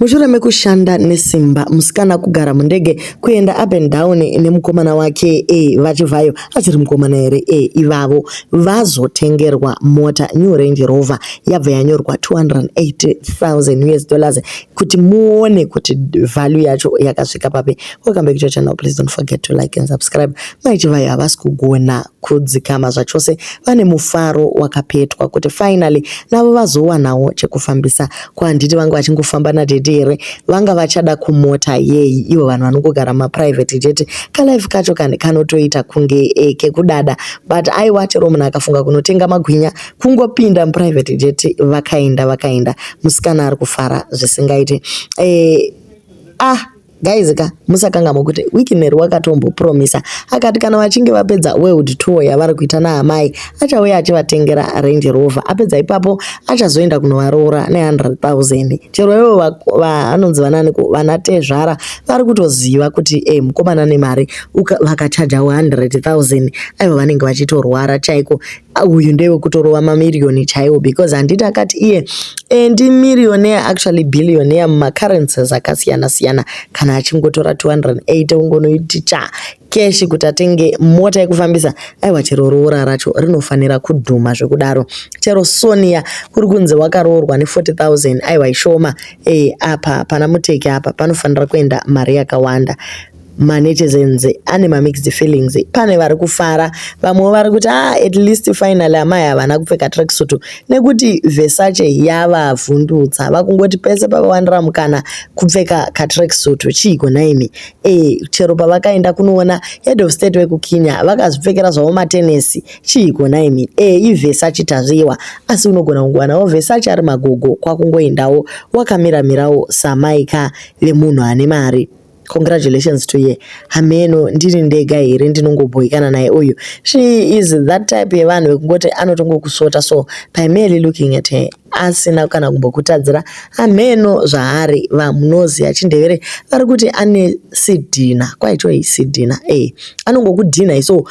Mushure mekushanda nesimba, musikana kugara mundege kuenda up and down nemukomana wake e, VaChivhayo asiri mukomana here e, ivavo vazotengerwa mota new Range Rover yabva yanyorwa 280,000 US dollars kuti muone kuti value yacho yakasvika papi. Welcome back to your channel, please don't forget to like and subscribe. Mai Chivhayo havasi kugona kudzikama zvachose vane mufaro wakapetwa kuti finally navo vazowanawo chekufambisa ko handiti vanga vachingofamba nadhedhi here vanga vachada kumota yei ivo vanhu vanongogara mumaprivate chete kalife kacho kani kanotoita kunge e, kekudada but aiwa chero munhu akafunga kunotenga magwinya kungopinda muprivate chete vakaenda vakaenda musikana ari kufara zvisingaiti e, ah Guys ka musakangamwe kuti Wickner wakatombopromisa akati kana vachinge vapedza world tour yavari kuita naamai achauya achivatengera Range Rover apedza ipapo achazoenda kunovaroora ne100,000 chero ivo vanonzi vananiko vana tezvara vari kutoziva kuti eh, mukomana nemari vakachajawo 100,000 aivo vanenge vachitorwara chaiko uyu ndewe kutorova mamiriyoni chaiwo because handiti akati iye e, ndi millionaire actually billionaire mumacurrencies akasiyana siyana kana achingotora 280 ungonoiti cha keshi kuti atenge mota yekufambisa aiwa chero roora racho rinofanira kudhuma zvekudaro chero sonia kuri kunzi wakaroorwa ne40000 aiwa ishoma e, apa pana muteki apa panofanira kuenda mari yakawanda manetizens ane mamixed feelings pane vari kufara vamwewo vari kuti ah, at least finally amai havana kupfeka tracksuit nekuti vesache yavavhundutsa vakungoti pese pavawanira mukana kupfeka katracksuit chiiko nhaimi e chero pavakaenda kunoona head of state vekukenya vakazvipfekera zvavo matenesi chiiko nhaimi e ivesache tazviwa asi unogona kungowanawo vesache ari magogo kwakungoendawo wakamiramirawo samaika vemunhu ane mari Congratulations to ye hameno ndiri ndega here ndinongobhoikana naye uyu she is that type yevanhu vekungoti anotongokusota so by merely looking at her asina kana kumbokutadzira hameno zvaari vamunozi achindevere vari kuti ane sidhina kwaitoi sidhina e eh, anongokudhina iso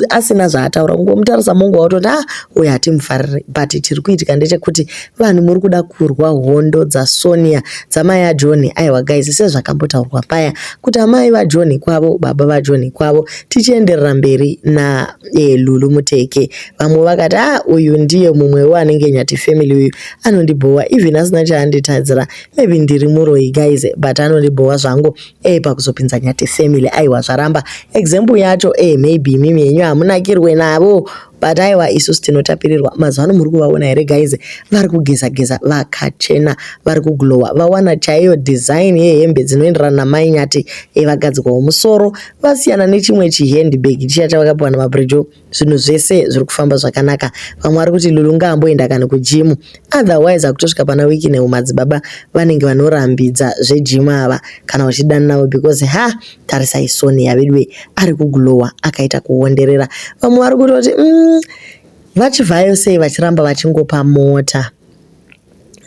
asina zvaataura kungomutarisa mongo wautoti a ah, uyo hatimufariri but tiri kuitika ndechekuti Vanhu muri kuda kurwa hondo dzaSonia dzamai aJohn aiwa guys sezvakambotaurwa paya kuti amai vaJohn kwavo baba vaJohn kwavo tichienderera mberi na eh, Lulu Muteke vamwe vakati ah uyu ndiye mumwe wanenge nyati family uyu anondibhowa even asina chaanditadzira maybe ndiri muroyi guys but anondibhowa zvangu eh pakuzopinza nyati family aiwa zvaramba example yacho eh maybe mimi yenyu hamunakirwe navo But aiwa isusu tinotapirirwa mazuvano muri kuvaona here guys vari kugeza geza vakachena vari kuglowa vawana chaiyo design yehembe dzinoenderana namai nyati evagadzikwawo musoro vasiyana nechimwe chihandbag chiya chavakapiwa namabrijo zvinhu zvese zviri kufamba zvakanaka vamwe vari kuti lulu ngaamboenda kana kujimu otherwise akutosvika pana wiki neumadzibaba vanenge vanorambidza zvejimu ava kana vachidanavo because ha Tarisai Sonia veduwe ari kuglower akaita kuonderera. Vamwe vari kutoti mm, vachivhayo sei vachiramba vachingopa mota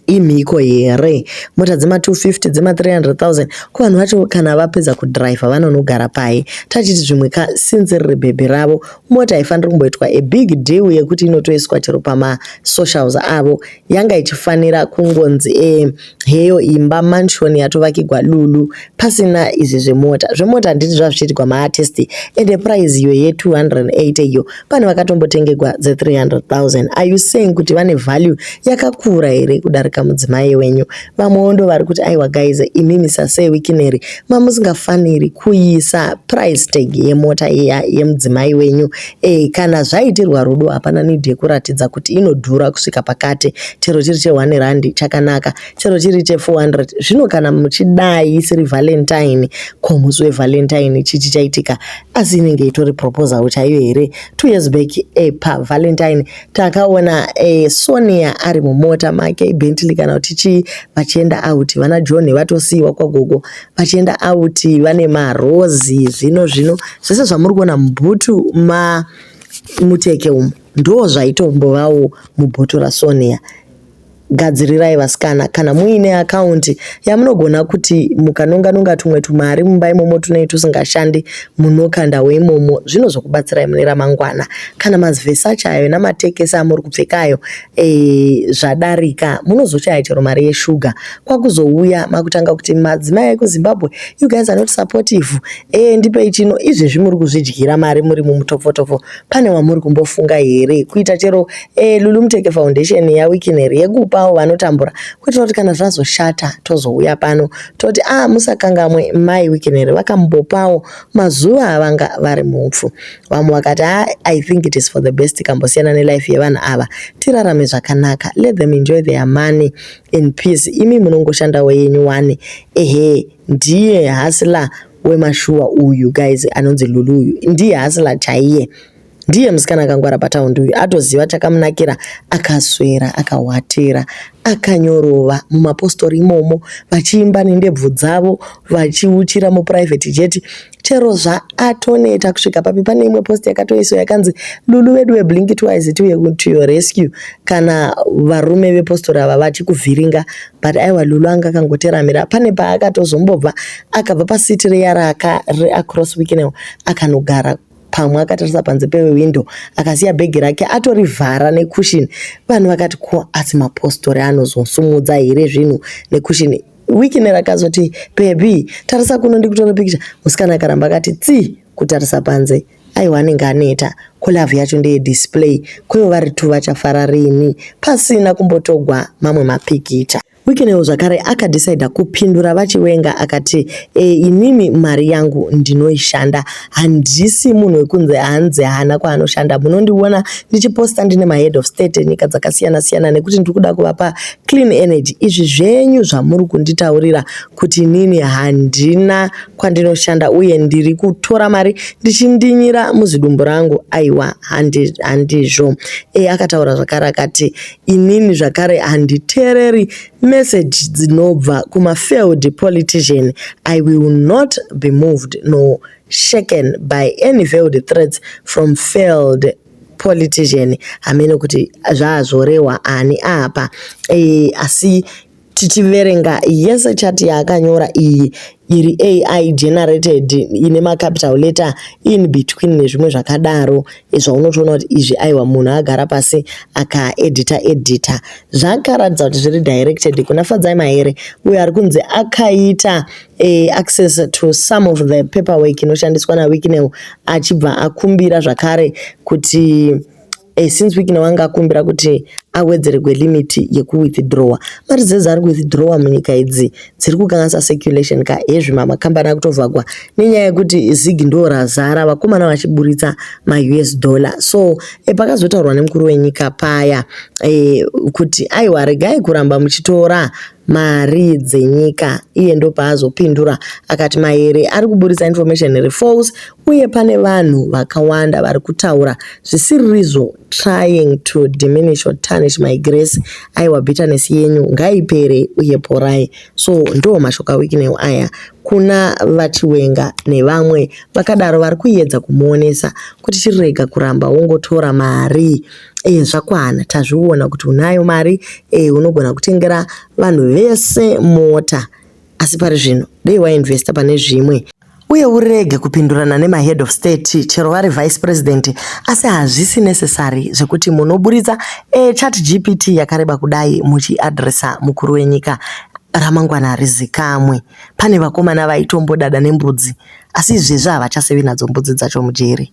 imhiko here mota dzema 250 dzema 300000 ko vanhu vacho kana vapedza kudriver vanonogara pai tachiti zvimwe ka since riri bhebhi ravo mota haifaniri kumboitwa a big deal yekuti inotoiswa chero pama socials avo yanga ichifanira kungonzi e heyo imba mansion yatovakigwa lulu pasina izvi zvemota zvemota handiti zvazvichiitigwa maartist ende prize iyo ye 280 iyo pane vakatombotengegwa dze 300000 are you saying kuti vane value yakakura here kudarika mudzimai wenyu vamwewo ndo vari kuti aiwa guys imi misasei wikineri mamusingafaniri kuisa price tag yemota yemudzimai wenyu Ehe, kana zvaitirwa rudo hapana need yekuratidza kuti inodhura kusvika pakati, chero chiri che one rand chakanaka, chero chiri che 400. Zvino kana muchidai isiri Valentine, ko musi we Valentine chii chichaitika? Asi inenge itori proposal chaiyo here? Two years back e pa Valentine takaona e, Sonia ari mumota make Bentley kana kuti chii vachienda out, vana John vatosiiwa kwagogo vachienda out vane marozi zvino zvino zvese zvamuri kuona mubhutu ma muteke umu ndo zvaitombovawo mubhoto rasonia gadzirirai vasikana kana muine akaunti yamunogona kuti mukanonga nonga tumwe tumari mumba imomo tunei tusingashandi munokanda weimomo zvino zvokubatsirai mune ramangwana kana mazivhesi acho ayo namatekesi amuri kupfekayo e, zvadarika munozoshaya chero mari yeshuga kwakuzouya makutanga kuti madzimai ekuzimbabwe you guys are not supportive e, ndipei chino izvezvi muri kuzvidyira mari muri mumutopfotopfo pane wamuri kumbofunga here kuita chero e, lulumteke foundation yawikineri yekupawo vanotambura kuitira kuti kana zvazoshata tozouya pano toti a ah, musakangamwe mai wikineri vakambopawo mazuva avanga vari mupfu vamwe vakati ha ah, i think it is for the best tikambosiyana nelife yevanhu ava tirarame zvakanaka let them enjoy their money in peace imi munongoshandawo yenyu wani ehe ndiye hasla wemashuwa uyu guys anonzi lulu uyu ndiye hasla chaiye ndiye musikana akangwara pataundi uyu atoziva chakamunakira akaswera akahwatira akanyorova mumapostori imomo vachiimba nendebvu dzavo vachiuchira mupuraivheti jeti chero zvaatoneta kusvika papi pane imwe post yakatoiswa yakanzi lulu vedu veblink twice tiuye to your rescue kana varume vepostori ava vachikuvhiringa but aiwa lulu anga akangoteramira pane paakatozombobva akabva pasiti riya raacross weeknel akanogara pamwe akatarisa panze pewindo akasiya bhegi rake atorivhara nekushini vanhu vakati ko asi mapostori anozosumudza here zvinhu nekushini Wikiner akazoti, Bhebhi, tarisa kuno ndikutora pikicha. Musikana akaramba akati tsi kutarisa panze. Aiwa anenge aneta, ko love yacho ndeye display, kwevo vari two vachafara rini pasina kumbotogwa mamwe mapikicha. Wikinewo zvakare akadhisaidha kupindura vaChiwenga akati, E, inini mari yangu ndinoishanda handisi munhu wekunzi hanzi haana kwaanoshanda munondiona ndichiposta ndine mahead of state enyika dzakasiyana siyana nekuti ndiri kuda kuvapa clean energy izvi zvenyu zvamuri kunditaurira kuti inini handina kwandinoshanda uye ndiri kutora mari ndichindinyira muzidumbu rangu aiwa handizvo e akataura zvakare akati inini zvakare handiteereri Message dzinobva kuma failed politician I will not be moved nor shaken by any veiled threats from failed politician hameno kuti zvaazvorehwa ani apa e, asi tichiverenga yese chati yaakanyora iyi iri AI generated ine macapital letter in between nezvimwe zvakadaro zvaunotoona kuti izvi aiwa munhu agara pasi akaedita edita zvakaratidza kuti zviri directed kuna Fadzai Mahere uyo ari kunzi akaita eh, access to some of the paperwork inoshandiswa naWicknell achibva akumbira zvakare kuti Eh, since wikina wanga akumbira kuti awedzererwe limit yekuwithdrawa mari dzese dzaari kuwithdrawa munyika idzi dziri kukanganisa circulation ka hezvi makambani akutovhagwa nenyaya yekuti zig ndo razara vakomana vachiburitsa maus dollar so e, pakazotaurwa nemukuru wenyika paya e, kuti aiwa regai kuramba muchitora mari dzenyika iye ndopaazopindura akati mahere ari kuburitsa information iri false uye pane vanhu vakawanda vari kutaura zvisiririzvo trying to diminish or tarnish my grace aiwa bitterness yenyu ngaipere uye porai so ndo mashoka weeknel aya kuna vachiwenga nevamwe vakadaro vari kuedza kumuonesa kuti chirega kuramba wongotora mari mm. Eh, zvakwana tazviona kuti unayo mari eh, unogona kutengera vanhu vese mota asi pari zvino dei wainvesta pane zvimwe uye urege kupindurana nemahead of state chero vari vice president asi hazvisi necessary zvekuti munoburitsa e chat gpt yakareba kudai muchiadressa mukuru wenyika ramangwana harizikamwe pane vakomana vaitombodada nembudzi asi izvezvi havachasevi nadzo mbudzi dzacho mujeri